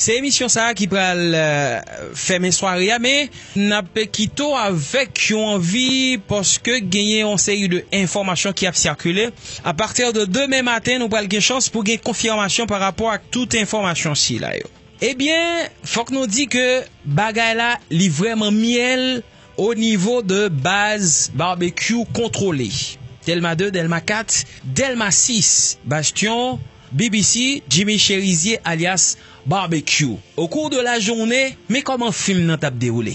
Se emisyon sa ki pral fèmen sware a men n ap kite w avèk yon anvi paske genyen yon seri de enfòmasyon ki ap sikile. A pati de demen maten nou pral gen chans pou gen konfimasyon pa rapò ak tout enfòmasyon sila yo. Ebyen fòk nou di ke bagay la li vrèman myèl o nivo de baz Barbecue kontwole. Dèlma 2, Dèlma 4, Dèlma 6, Bastyon. Bbc, Jimmy Chérizier alyas Barbecue au cours de la journée men kòman fim nan tap dewoule.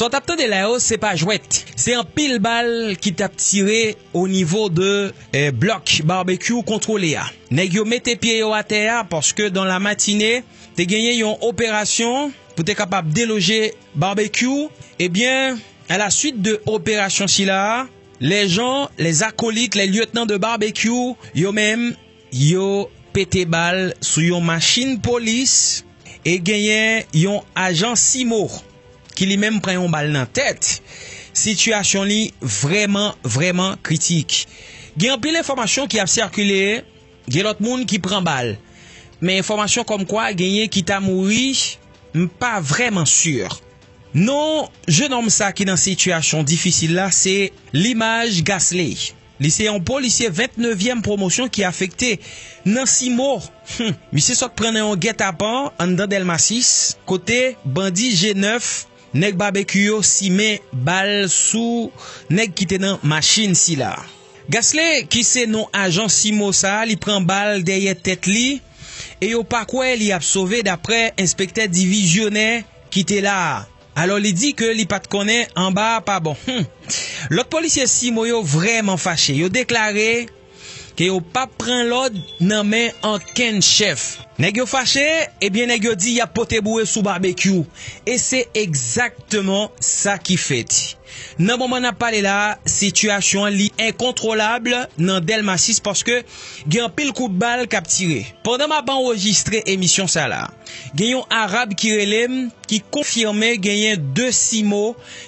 Sa w tap tande la yo se pa jwèt. Se anpil bal ki tap tire o nivo de blòk Barbecue kontwole a. Nèg yo mete pye yo atè a paske dan la matine te genyen yon operasyon pou te kapab deloje Barbecue. Ebyen a la swit de operasyon sila a. Lè Jan, lè zakolit, lè lyetnan de Barbekyou, yo menm, yo pete bal sou yon machin polis e genyen yon ajan CIMO ki li menm pran yon bal nan tèt. Sitiyasyon li vrèman, vrèman kritik. Gen anpil enfòmasyon ki ap sikile, gen lòt moun ki pran bal. Men enfòmasyon kòmkwa genyen ki ta mouri, m pa vrèman si. Non jenòm sa ki nan sitiyasyon difisil la se Limage Gasley. Li se yon polisye 29 pwomosyon ki afekte nan Cimo. Misye sot pran nan yon gètapan anndan Dèlma 6 kote bandi je nèf nèg Babekyou yo simen bal sou nèg ki te nan machin sila. Gasley ki se non ajan Cimo sa li pran bal dèyè tèt li e yo pa kwè li ap sove daprè enspektè divizyonè. Ki te la a. Alò li di ke li pa t konnen anba a pa bon. Hum! Lòt polisye CIMO yo vrèman fache. Yo deklare ke yo pa p pran lòd nan men ankenn chèf. Nèg yo fache, ebyen nèg yo di y ap pote boure sou Babekyou. E se egzakteman sa ki fèt. Nan moman n ap pale la a, sitiyasyon an li enkontwolab nan Dèlma 6 paske gen anpil kout bal k ap tire. Pandan m ap anrejistre emisyon sa la. Gen yon Arab ki rele m ki konfime genyen 2 simo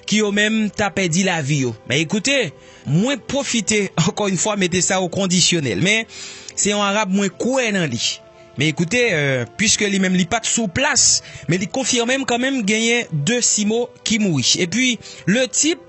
ki yo menm ta pèdi lavi yo. Men ekoute, mwen pwofite ankò yon fwa mete sa o kondisyonèl. Men, se yon Arab mwen kwè nan li. Men ekoute, pwiske li menm li pat sou plas, men li konfime m kanmenm genyen 2 simo ki mouri. E pwi, le tip.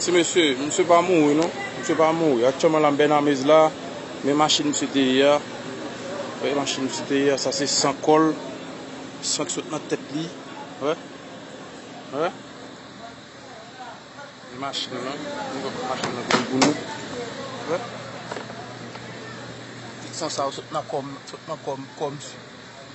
Ti mesye, misye pa mouri non. Misye pa mouri. Aktyèlman la m Bènamez la, men machin misye te ye a, wè machin misye te ye a, sa se san kò l, san k sot nan tèt li, wè, wè. Men machin lan, nou wè kote machin lan vini pou nou, wè. Tout san sa yo sot nan kò m, sot nan kò m, kò misye.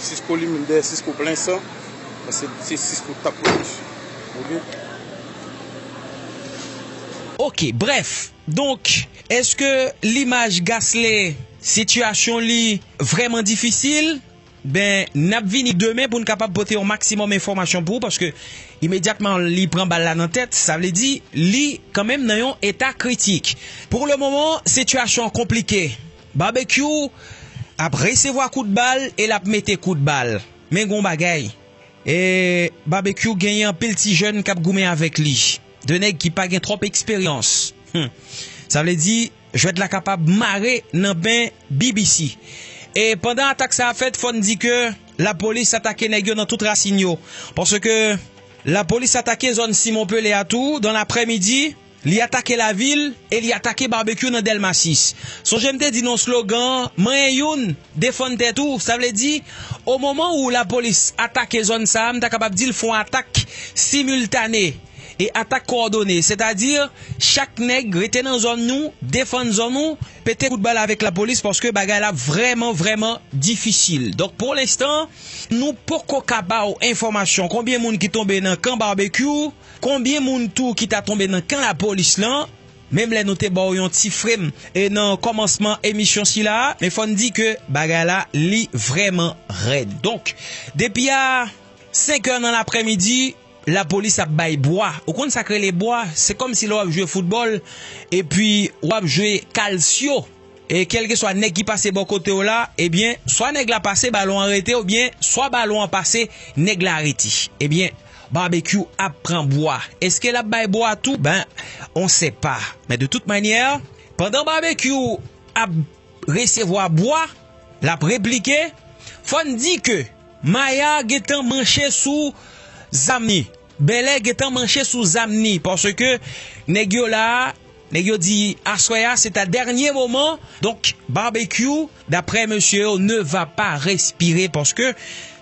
Sisco li menm dèyè Sisco plen san paske se Sisco k tap pwotej ok. Ok brèf donk eske limaj Gasly sitiyasyon li vrèman difisil ben nap vini demen poun kapab pote yon maksimòm enfòmasyon pou ou paske imedyatman li pran bal la nan tèt sa vle di li kan menm nan yon eta kritik pou le moman sitiyasyon an konplike. Babekyou ap resevwa kout bal e lap mete kout bal men gon bagay Babekyou genyen anpil ti jèn kap goumen avèk li 2 nèg ki pa gen twòp eksperyans humm sa vle di jwèt la kapab mare nan men BBC e pandan atak sa ap fèt fòn di ke lapolis atake nèg yo nan tout rasin yo paske lapolis atake zòn Simon Pele a tou dan laprè midi. Li atake lavil e li atake Barbecue nan Dèlma 6. Sonje m te di nan slogan an, manyen youn, defann tèt ou, sa vle di, omoman ou lapolis atake zòn sa a, m ta kapab di l fon atak similtane e atak kowòdone, sètadi chak nèg rete nan zòn nou, defann zòn ou, pete kout bal avèk lapolis paske bagay la ap vrèman vrèman difisil. Donk pou lenstan, nou poko ka ba w enfòmasyon konbyen moun ki tonbe nan kan Barbecue. Konbyen moun tou ki ta tonbe nan kan lapolis lan menm lè nou te ba w yon ti frem e nan kòmansman emisyon sila a men fò n di ke bagay la li vrèman rèd donk depi a senkè nan laprèmidi lapolis ap bay bwa ou konn sa k rele bwa se kòmsi lè w ap jwe foutbòl epi w ap jwe kalsyo. E kèlkeswa nèg ki pase bò kote w la, ebyen, swa nèg la pase balon an rete oubyen swa balon an pase nèg la rete. Ebyen, Barbecue ap pran bwa. Eske l ap bay bwa tou? Ben, on sè pa. Men de tout manyè, pandan Barbecue ap resevwa bwa, l ap replike, fò n di ke Maya gen tan manche sou zam li. Bèlè gentan manche sou zam ni paske nèg yo la a, nèg yo di aswè a se ta dènye moman donk Barbecue daprè mesye yo ne va pa respire paske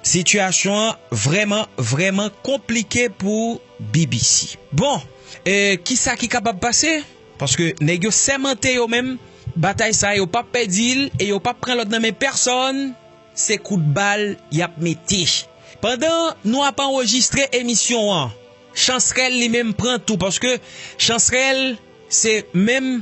sitiyasyon an vrèman vrèman konplike pou BBC. Bon e kisa ki kapab pase paske nèg yo sèmante yo menm batay sa yo pap pèdi l e yo pap pran lòd nan men pèsòn. Se kout bal y ap mete. Pandan nou ap anrejistre emisyon an, Chansrèl li menm pran tou paske Chansrèl se menm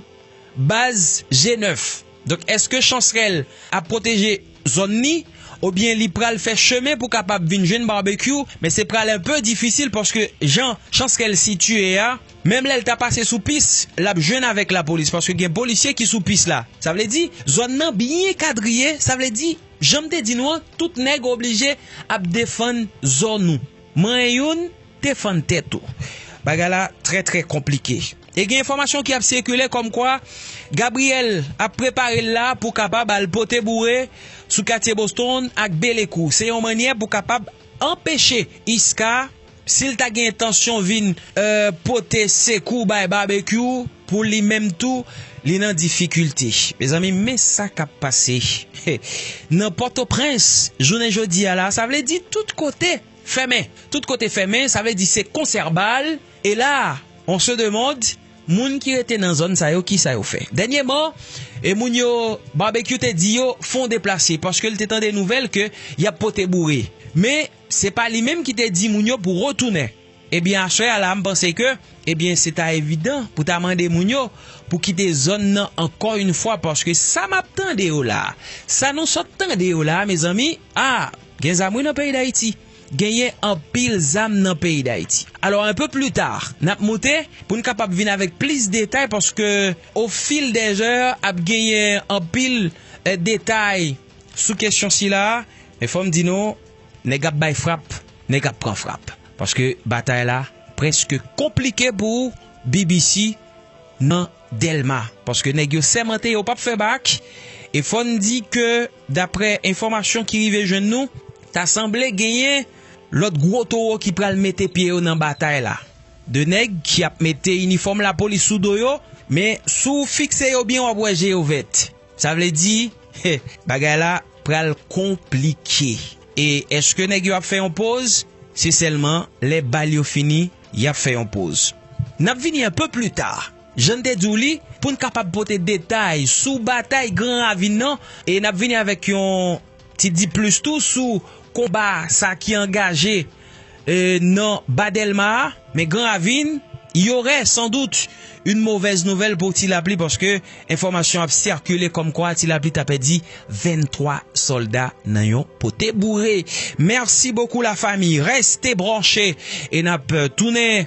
baz je nèf. Donk èske Chansrèl ap pwoteje zòn ni oubyen li pral fè chemen pou kapab vin jwenn Barbecue men se pral enpe difisil paske jan Chansrèl sitiye a. Menm lè l ta pase sou pis, l ap jwenn avèk lapolis paske gen polisye ki sou pis la. Sa vle di, zòn nan byen kadriye, sa vle di, jan m te di nou an, tout nèg oblije ap defann zòn ou. Manyen youn, defann tèt ou. Bagay la trè trè konplike. E gen enfòmasyon ki ap sikile kòmkwa Gabriel ap prepare l la pou kapab al pote boure sou katye Boston ak Belekou. Se yon mannyè pou kapab anpeche Isca. Si l ta gen entansyon vin pote sekou bay Babekyou pou li menm tou li nan difikilte. Mezanmi men sa k ap pase nan Pòtoprens jounen jodi a la, sa vle di tout kote fèmen. Tout kote fèmen sa vle di se konsèrbal e la on se demande moun ki rete nan zòn sa yo ki sa yo fè. Dènyeman e moun yo Babekyou te di yo fon deplase paske l te tande nouvèl ke y ap pote boure men. Se pa li menm ki te di moun yo pou retounen. Ebyen aswè a la m panse ke ebyen se ta evidan pou ta mande moun yo pou kite zòn nan ankò yn fwa paske sa map tande yo la, sa nou sot tande yo la mezanmi ah gen zam wi nan peyi dayiti genyen anpil zam nan peyi dayiti. Alò un peu plus tard nap moute pou n kapab vin avèk plis detay paske au fil des heures ap genyen anpil detay. Sou kesyon sila, men fò m di nou, nèg ap bay frap, nèg ap pran frap. Paske batay la preske konplike pou BBC nan Dèlma. Paske nèg yo sèmante yo pap fè bak. E fò n di ke daprè enfòmasyon ki rive jwenn nou, ta sanble genyen lòt gwo towo ki pral mete pye yo nan batay la. De nèg ki ap mete inifòm lapolis sou do yo, men si w fikse yo byen w ap wè je yo vèt. Sa vle di bagay la pral konplike. E eske nèg yo ap fè yon poz? Se sèlman lè bal yo fini y ap fè yon poz. N ap vini anpe pli ta, jan n te di w li, pou n kapab pote detay sou batay Gran Ravin nan e n ap vini avèk yon. Ti di plis tou sou konba sa ki angaje nan ba Dèlma a, men Gran Ravin, yorè san dout yn movèz nouvèl pou Ti Lapli paske enfòmasyon ap sikile kòmkwa Ti Lapli ta pèdi 23 sòlda nan yon pote boure. Merci beaucoup la famille reste branche e nap tounen.